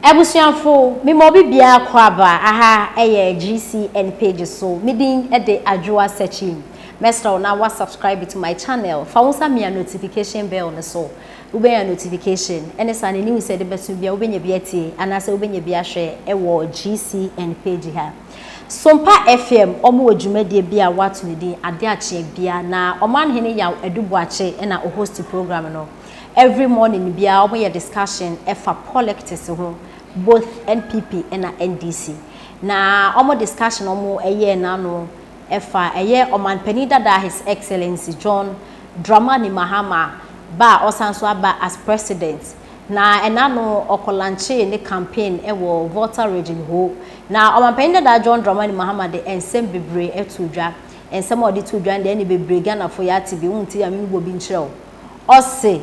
Abusuafo, me ma obi biara kɔ aba aha ɛyɛ GCN page so, me din de Adwoa Sakyi. Mɛsrɛ wo na wa subscribe to my channel, fa wo nsa mia notification bell no so, wo bɛnya notification ɛne saa ne news a yɛde bɛso biara wo bɛnya bi atie anaasɛ wo bɛnya bi ahwɛ ɛwɔ GCN page ha. Sompa FM ɔmo wɔ dwumadie bi a w'ato ne din Adeɛ Akyeɛ Bia na Ɔmanhene Yaw Adu Boakye ɛna o host program no. Every morning biaa ɔmo yɛ discussion ɛfa polictics ho both NPP ɛna NDC na ɔmo discussion ɔmo ɛyɛɛ n'ano ɛfa ɛyɛ ɔmanpanin dadaa his excellency John Dramani Mahama ba a ɔsan so aba as president na ɛna no ɔkɔ lanchee ne campaign ɛwɔ Volta region hoo na ɔmanpanin dadaa John Dramani Mahama de ɛnsɛm bebree ɛtoo dwa ɛnsɛm a ɔde too dwa no deɛ ɛne bebree Ghana foɔ yɛate bi wo nti yɛ a me me bɔ bi nkyerɛ wo. ɔse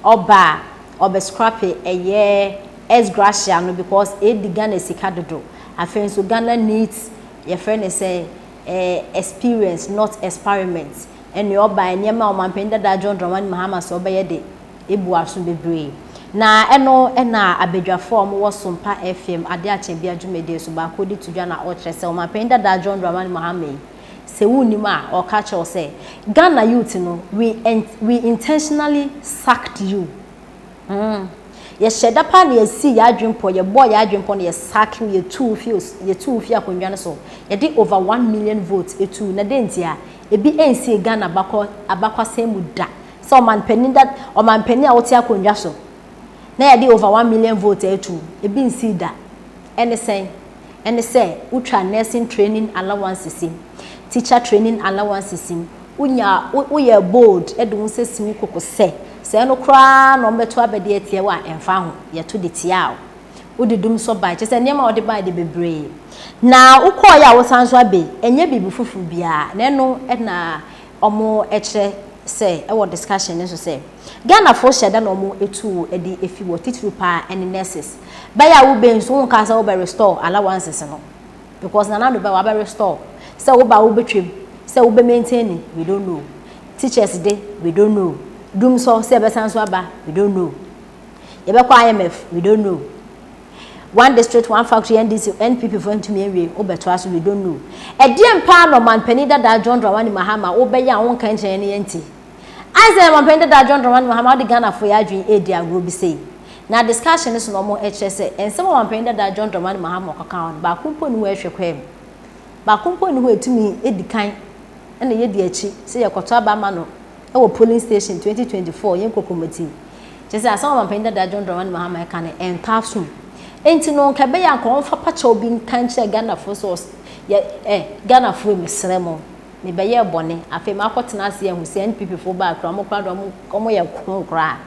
ɔba a ɔbɛ scrape ɛyɛ ex gratia no because edi Ghana sika dodo afei nso Ghana needs yɛfrɛ no sɛ eh experience not experiment ɛnea ɔba nneɛma a ɔmanpanin dadaa John Dramani Mahama se ɔbɛyɛ de ebu aso bebree na ɛno na abadwafo a wɔwɔ Sompa FM Adeɛ Akyɛbea dwumadie so baako de to dwa na ɔkyerɛ sɛ ɔmanpanin dadaa John Dramani Mahama yi Sɛ wonnim a, ɔreka akyerɛ wo sɛ, Ghana youth no, we int we intentionally sacked you. Hmm. Yɛhyɛɛ da paa na yɛsii yɛn adwene pɔ, yɛbɔɔ yɛn adwene pɔ na yɛsacke wo, yɛtuu wo fii os yɛtuu wo fii akonnwa no so. Yɛde over one million votes tuu wo. Na dɛn ntia? Ebi ansii Ghana abakɔ abakwasɛm mu da sɛ ɔmanpanin da ɔmanpanin a wote akonnwa so na yɛde over one million votes atu wo. Ebi nsii da. Ɛne sɛn? ɛne sɛ wotwa nursing training allowances yi, teacher training allowances yi, wonya wo woyɛɛ bold de wo nsa si wo koko sɛ sɛ ɛno koraa na wɔbɛto abɛde atia wo a ɛmfa ho, yɛto de tiaa wo. Wode dum nso bae, kyerɛ sɛ nneɛma a wode bae de bebree na wokɔeɛ a wosan nso aba yi, ɛnyɛ biribi foforo biara na ɛno na wɔkyerɛ sɛ ɛwɔ discussion no so sɛ Ghanafoɔ hyɛ da na wɔtu wo de fi wɔ titiriw paa ne nurses. bɛyɛ a wo ba yi nso wo nka sɛ wo bɛ restore allowances no because nana do bɛ wa bɛ restore sɛ wo ba wo bɛ twam sɛ wo bɛ maintain ni we don't know teachers de we don't know dum sɔ sɛ bɛ san so aba we don't know yɛ bɛ kɔ IMF we don't know one district one factory NDC NPP fo ntumi awie wo bɛ to aso we don't know ɛdeɛ mpaa na ɔman panin dadaa John Dramani Mahama wo bɛ yɛ a wo nka nkyɛn ne yɛn ti. Asɛ Ɔmanpanin dada John Dramani Mahama de Ghanafoɔ yɛ adwene redi agorɔ bi sei? Na discussion no so na wɔkyerɛ sɛ nsɛm a Ɔmanpanin dada John Dramani Mahama ɔkɔka hɔ no baako mpo nni hɔ a ɛhwɛ kwan mu. Baako mpo nni hɔ a ɛtumi di kan na yɛdi akyi sɛ yɛkɔtɔ aba ama no wɔ polling station 2024 yɛn kokomoti. Kyerɛ sɛ asɛm a Ɔmanpanin dada John Dramani Mahama reka no ɛntɔ asom. Enti no nka ɛbɛyɛ a nka wɔmfa pakyɛw bi nka nkyerɛ Ghanafoɔ sɛ ɔs yɛ ɛ Ghanafoɔ mesrɛ mo. mebɛyɛɛ bɔne, afei makɔ tena ase ahu sɛ NPP foɔ baa koraa ɔmo koraa deɛ ɔmo yɛ kronn koraa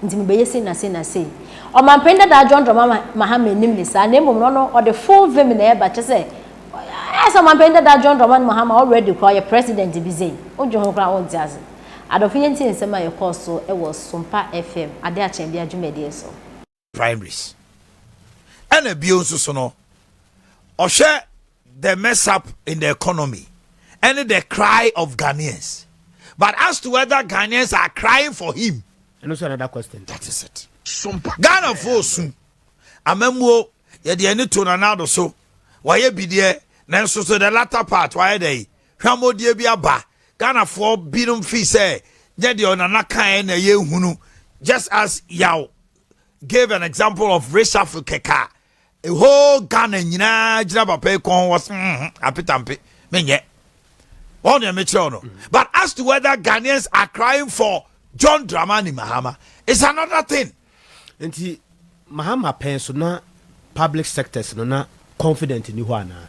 nti mebɛyɛ sei na sei na sei. Ɔmanpanin dadaa John Dramah Mahama nnim ne saa na mmom no ɔno ɔde full vim na ɛɛba kyerɛ sɛ ayɛ sɛ ɔmanpanin dadaa John Dramah Mahama already koraa ɔyɛ president bi sei wodwe ho koraa wonte ase. Adɔfo yɛntie nsɛm a ɛkɔɔ so wɔ Sumpa FM adeɛ akyɛ bia dwumadie so. primaries. Ɛna bio nso so no, ɔhwɛ the mess up in the economy and the cry of Ghanaians. But as to whether Ghanaians are crying for him, and also another question. That is it. Ghana fo su amamuo yɛde ani to nanado so wayɛ bideɛ nanso so the latter part wayɛ dɛ yi hwamodie bi aba Ghana fo binom fi sɛ nyɛ deɛ ɔnana kan na yɛ hunu just as yaw gave an example of reshuffle kɛkɛ a whole ghana nyinaa gyina papa yi kɔn wɔ so mm-hmm, apetampe menyɛ wɔn nea mekyerɛw no but as to whether ghanaians are crying for john dramani mahama it's another thing. nti mahama pɛn so na public sectors no na confident ni hɔ anaa.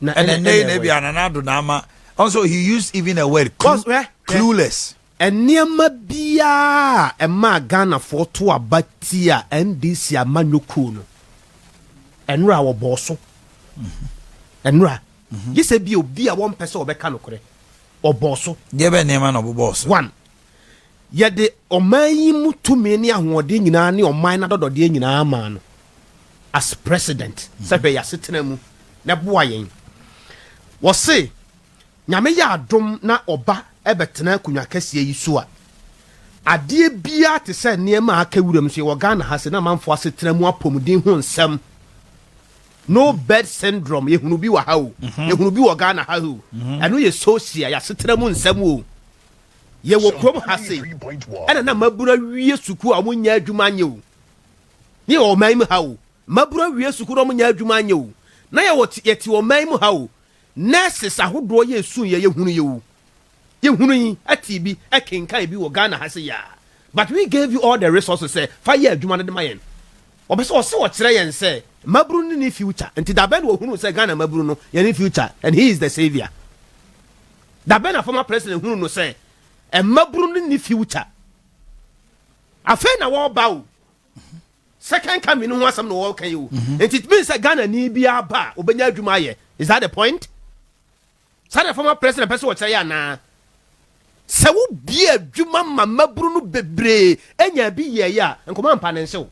na ɛnɛ ɛnɛ yi na ebi anana do na ama also he used even a word clue, clueless. nneɛma biara a ɛmaa ghanafoɔ to aba tia ndc amanyɔ kuo no ɛnora a wɔbɔɔ so ɛnora gye sɛ bi obi a wɔmpɛ sɛ wɔbɛka nokorɛ ɔbɔɔ so deɛ bɛ nneɛma na ɔbobɔɔ so one Yɛde ɔman yi mu tumi ne ahoɔden nyinaa ne ɔman no adɔdɔdeɛ nyinaa maa no as president sɛ hwɛ y'asetena mu na boa yɛn. Wɔse Nyame yɛ adom na ɔba bɛtena akonwa kɛseɛ yi so a, adeɛ biara te sɛ nneɛma a aka wuram so yɛwɔ Ghana ha se na amanfoɔ asetena mu apɔmuden ho nsɛm no bed syndrome yɛhunu bi wɔ ha o, yɛhunu bi wɔ Ghana ha o, ɛno yɛ social, y'asetena mu nsɛm o. yɛwɔ kurom ha sei, ɛna na mmabunu awie sukuu a wɔnyɛ adwuma anyɛ o, ne yɛwɔ ɔman mu ha o, mmabunu awie sukuu na wɔnyɛ adwuma anyɛ o, na yɛwɔ yɛte ɔman mu ha o, nurses ahodoɔ yɛ esu yɛ yɛhunu yɛ o, yɛhunu yi ɛte bi ɛkenkan bi wɔ Ghana ha se yɛ a, but we gave you all the resources sɛ fa yɛ adwuma no de ma yɛn. Wɔpɛ sɛ ɔse ɔkyerɛ yɛn sɛ mmabunu no ne future, nti dabɛn na ɔhunu sɛ Ghana mmabunu no yɛne future and he is the saviour. Dabɛn na former president hunu no sɛ mmabunu no nni future? Afei na wɔreba o. Second coming no ho asɛm na wɔreka yi o. Mhm. Nti it means sɛ Ghana ni bi aba a obenya adwuma ayɛ. Is that the point? Saa na former president pɛ sɛ wɔkyerɛ yɛ anaa? sɛ wobie adwuma ma mmabunu no bebree anya bi yɛeɛ a nkɔmɔ ampa ne nsew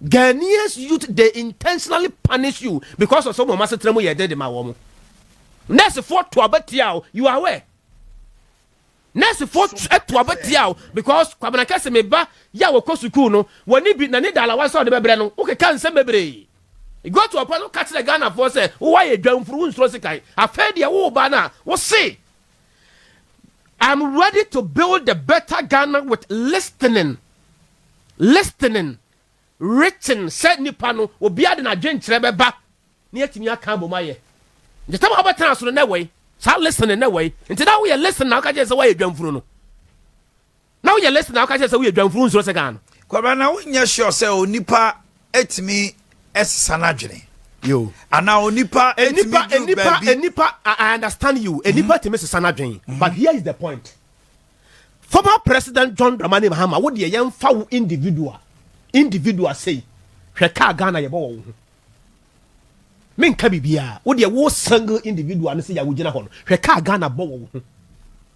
Ghanaians youth they intentionally punish you because of some of us trem yɛ den de ma wɔn. Nurse for to abetia o you are aware. Nurse for to abetia o because kwabena kɛse me ba ya wɔ kɔ sukuu no wɔne bi na ne dala wa sɛ ɔde bɛbrɛ no woke ka nsɛm bebree. Go to ɔpɛ no ka kyerɛ Ghana for sɛ wowɔ ayɛ dwamfuru wo nsuro sikan afei deɛ wo ba no a wo se I'm ready to build a better Ghana with listening listening written sɛ nipa no obiara de n'adwenkyerɛ bɛba na yɛatumi aka abom ayɛ nti tam a wobɛtena so no na ɛwɔ yi saa listening na ɛwɔ yi nti na woyɛ listening na woka kyerɛ sɛ woayɛ dwamfunu no Na woyɛ list na woka kyerɛ sɛ woyɛ dwamfuru nsuro sɛ Ghana. Kwabena na wo nyɛ sure sɛ onipa ɛtumi ɛsesa n'adwene. Yo. Ana onipa ɛtumi duru baabi. Enipa I understand you enipa mm-hmm. ɛtumi sesa n'adwene mm-hmm. but here is the point. Former President John Dramani Mahama wo deɛ yɛn fa wo individual individual say hwɛ kaa Ghana yɛ bɔ wɔ wo ho. Menka biribiara. Wo deɛ wo single individual no sɛdeɛ wogyina hɔ no, hwɛ kaa Ghana bɔ wɔ wo ho.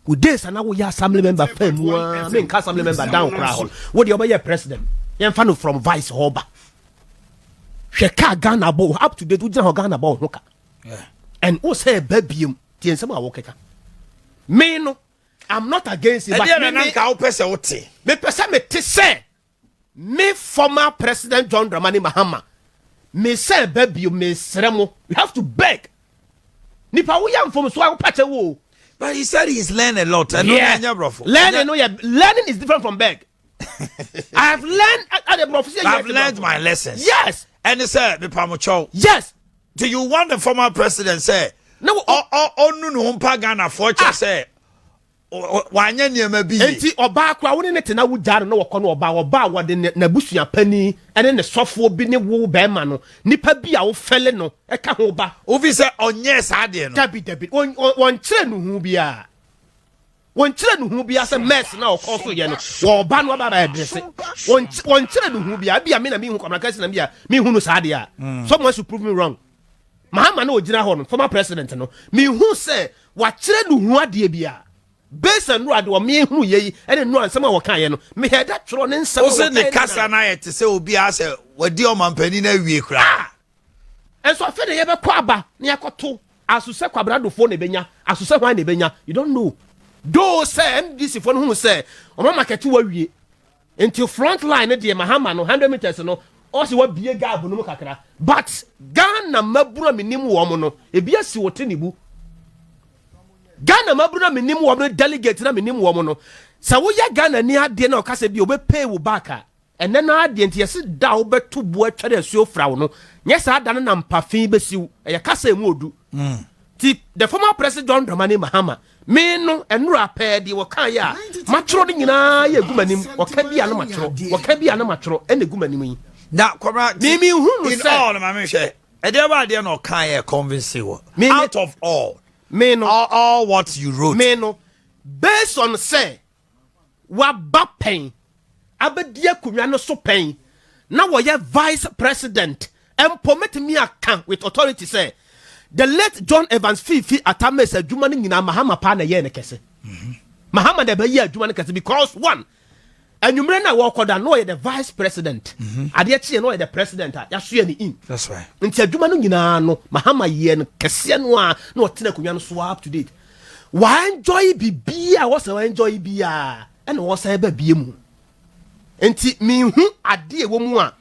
Wo days a na woyɛ assembly member pɛn mu a, menka assembly member down koraa hɔ no, wo deɛ wobɛyɛ president. Yɛmfa no from vice hɔ ba. Hwɛ kaa Ghana bɔ wo ho. Up to date wogyina hɔ Ghana bɔ wo ho ka. And wo sɛ ɛba biom, tie nsɛm a wokeka. Me no, I'm not against it. Ɛdeɛ na nanka wopɛ sɛ wote? Mepɛ sɛ mete sɛ Me former president John Dramani Mahama me sɛ ɛba bio me srɛ mo you have to beg nipa wo yɛ nfomso a wo pɛkyɛ wo o. But he said he's learned a lot. Ɛno yeah. ɛnyɛ brɔfo. Learning no yɛ learning is different from beg. I have learned at the brɔfo. I have learned my lessons. Yes. Ɛne sɛ mepamokyɛw. Yes. Do you want the former president sɛ ɔnu ne ho mpa Ghanafoɔ kyɛ sɛ wanyɛ nneɛma bi yie. Enti ɔbaa koraa wo ne no te na wogyaa no na wɔkɔ no ɔbaa ɔbaa a wɔde n'abusua panin ne ne sɔfoɔ bi ne wo bɛrima no nipa bi a wofɛle no ka ho ba. Wofi sɛ ɔnyɛɛ saa adeɛ no. Dabi dabi wɔnkyerɛ no hu biara wɔnkyerɛ no hu biara sɛ mɛs na ɔkɔ so yɛ no wɔba no aba aba ɛdrese wɔnkyerɛ no hu biara bi a me na mehu kwamana kasi na bi a mehu no saa adeɛ a mm. someone should prove me wrong. Mahama na ogyina hɔ no, former president no, mehu sɛ wakyerɛ no hu adeɛ bi a. Based on Nura de ɔmeɛ hunu yɛ yi ɛne Nura nsɛm a wɔka yɛ no, me hɛ da twerɛ ne nsɛm a wɔka yɛ no. Ose ne kasa no ayɛ te sɛ obi a sɛ wadi ɔmampanin no awie koraa. Ah! Ɛnso afei na yɛbɛkɔ aba na yɛakɔto aso sɛ Kwabena Adofo na ɛbɛnya aso sɛ hwan na ɛbɛnya. You don't know. Though sɛ MDC foɔ no hunu sɛ wɔn amakɛte wawie Nti front line no deɛ Mahama no hundred meters no ɔse wabie gap no mu kakra but Ghana mmabunu a menim wɔn no ebi asi wɔ Tinubu Ghana mmabunu a menim wɔn no delegate na menim wɔn no sɛ woyɛ Ghana ni adeɛ na ɔka sɛ bi ɔbɛpay wo back a ɛnɛ no adeɛ nti yɛse da wobɛto bu atware asuo fra wo no nyɛ saa da no na mpafe bɛsiw ɛyɛ kasa emu odu mm. nti the former president John Dramani Mahama Me no, ɛnora pɛɛ deɛ wɔkaeɛ a matwerɛ no nyinaa yɛ gu m'anim, wɔka bi a na matwerɛ, wɔka bi a na matwerɛ, ɛna gu m'anim yi. Na kɔmra ti, in all, ma me hwɛ, ɛdeɛ bɛ adeɛ na ɔkaeɛ convincing wɔ, out of all, me no, all, all what you wrote. Me no, based on sɛ, waba pɛn abɛdi akonnwa no so pɛn na wɔyɛ vice president mpo mɛtumi aka with authority sɛ the late john evans fifi atames adwuma no nyinaa mahama paa na ɛyɛɛ no kɛse mhm. mahama na ɛbɛyɛ adwuma no kɛse because one anwummerɛ no a wɔkɔda na ɔyɛ the vice president mhm. adeɛ kyeɛ na ɔyɛ the president a yɛasoɛ ne in nti adwuma no nyinaa no mahama yɛ no kɛseɛ no a na ɔtena akonnwa no so up to date Wɔaɛnjɔye biribiaa a wɔsɛ wɔɛnjɔye biaa ɛna wɔsan ba bie mu. Nti menhu adeɛ ɛwɔ mu a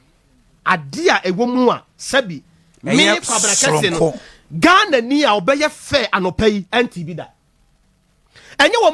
adeɛ a ɛwɔ mu a sɛbi me Kwabena Kɛseɛ no Ghana ni a ɔbɛyɛ fɛ anɔpa yi ɛnte bi da. Ɛnyɛ wɔn